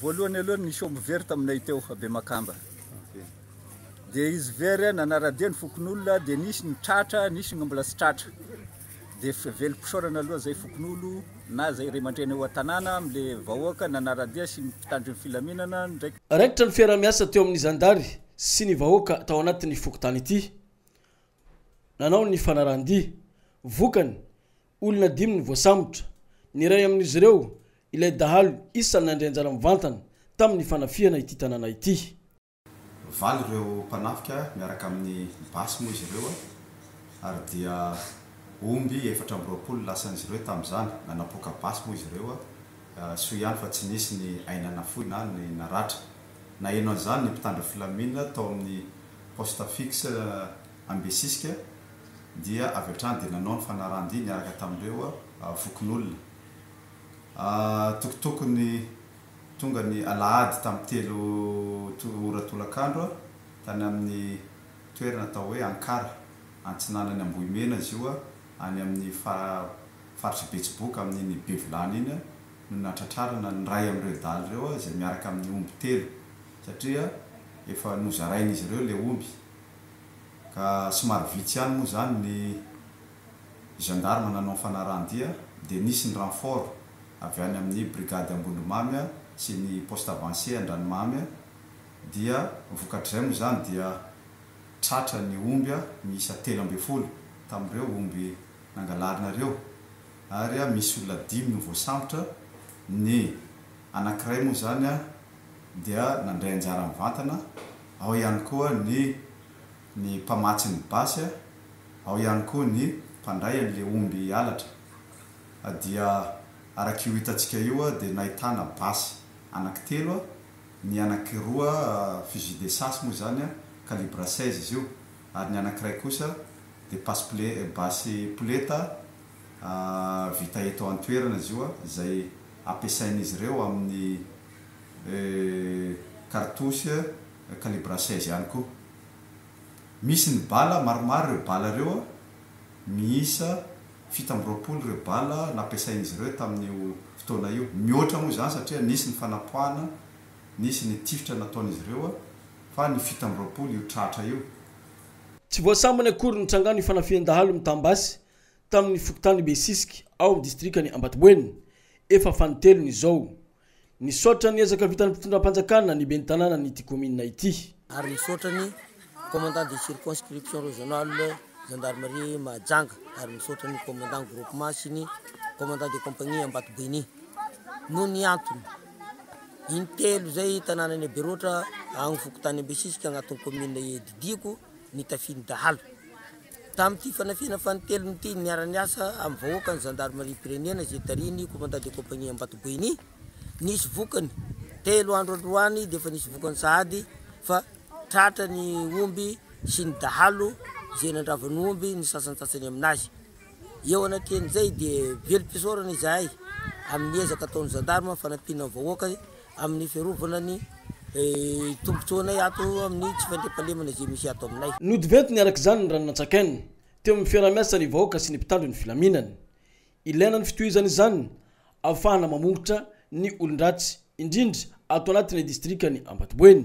Voalohany aloha nisy omby very taminay teo a Bemakamba, dia izy very nanara-dia ny fokonolona dia nisy ny tratra nisy ny mbola tsy tratra, dia velom-pisaorana aloha izay fokonolona na izay ray aman-dreny ao an-tanàna amin'ilay vahoaka nanara-dia sy ny mpitandro ny filaminana ndraiky. Raikitra ny fiaraha-miasa teo amin'ny zandary sy ny vahoaka tao anatin'ny fokontany ity nanao ny fanarahan-dia, vokany, Olona dimy no voasambotra. Ny iray amin'izy ireo, ilay dahalo isan'ny nandray anjara mivantana tamin'ny fanafihana ity tanàna ity. Nivaly ireo mpanafika miaraka amin'ny basy moa izy ireo ary dia omby efatra amby roapolo no lasan'izy ireo tamin'izany. Nanapoaka basy moa izy ireo. Soa ihany fa tsy nisy ny aina nafoy na ny naratra. Naheno an'izany ny mpitandro filaminana tao amin'ny poste fixe Ambesisika, dia avy hatrany dia nanao ny fanarahan-dia niaraka tamin'ireo fokonolona. Antokotokony tonga ny alahady tamin'ny telo ora tolakandro, tany amin'ny toerana atao hoe Ankara, antsinanan'i Ambohimena izy io, any amin'ny faritr'i Betsiboka, amin'iny Bevilany iny, no nahatratrarana ny iray amin'ireo dahalo ireo izay miaraka amin'ny omby telo, satria efa nozarain'izy ireo ilay omby. ka somary vitsy ihany moa izany ny gendarmes nanao ny fanarahan-dia dia nisy ny renfort avy any amin'ny brigade Ambondromamy sy ny poste avancé Andranomamy dia vokatr'izay moa izany dia tratra ny omby miisa telo ambin'ny folo tamin'ireo omby nangalarina ireo ary misy olona dimy no voasambotra, ny anankiray moa izany dia nandray anjara mivantana. Ao ihany koa ny ny mpamatsy ny basy a, ao ihany koa ny mpandray an'le omby halatra a dia arak'io hitantsika io a dia nahitana basy anaky telo a, ny anaky roa fusil de chasse moa izany a, calibre 16 izy io, ary ny anakiray kosa dia passe-pole basy poleta a vita eto an-toerana izy io a izay ampiasain'izy ireo amin'ny. Kartosy calibre seize ihany koa. Misy ny bala, maromaro ireo bala ireo, miisa fito amby roapolo ireo bala nampiasain'izy ireo tamin'io fotoana io. Mihoatra moa izany satria nisy ny fanapoahana, nisy ny tifitra nataon'izy ireo fa ny fito amby roapolo io tratra io. Tsy voasambany akory ny trangan'io fanafihan-dahalo mitam-basy tamin'ny fokontany Besisika ao amin'ny distrikan'i Ambatoboeny, efa fanintelony izao. Nisaotra ny ezaka vitan'ny mpitondram-panjakana ny ben'ny tanànan'ity kaominina ity. ary misaotra ny Commandant de circonscription régionale Gendarmerie Mahajanga ary misaotra ny Commandant groupement sy ny Commandant de compagnie Ambatoboini noho ny antony intelo izay tanànan'i Aberoatra agny fokontany Ambesisika agnatin'ny kaominina iadidiako. nitafian'ny dahalo. Tamin'ity fanafihana fanintelony ity, niara-niasa amin'ny vahoaka ny zandarimariam-pirenena izay tarihin'ny Commandant de Compagnie Ambatoboeny. Nisy vokany, telo andro androany dia efa nisy vokany sahady fa tratra ny omby sy ny dahalo izay nandrava ny omby ny sasantsasany aminazy. Eo anatrehan'izay dia velom-pisaorana izahay amin'ny ezaka ataon'ny zandarima fanampiana ny vahoaka amin'ny fiarovana ny tombontsoanay ato amin'ny tsy fandriampahalemana izay misy ato aminay. Nodiventiny araka izany ny ranon'Antsakeno teo amin'ny fiaraha-miasa ny vahoaka sy ny mpitandro ny filaminana. Ilaina ny fitohizana izany ahafahana mamongotra ny olon-dratsy, indrindra ato anatin'ny distrikan'i Ambatoboeny.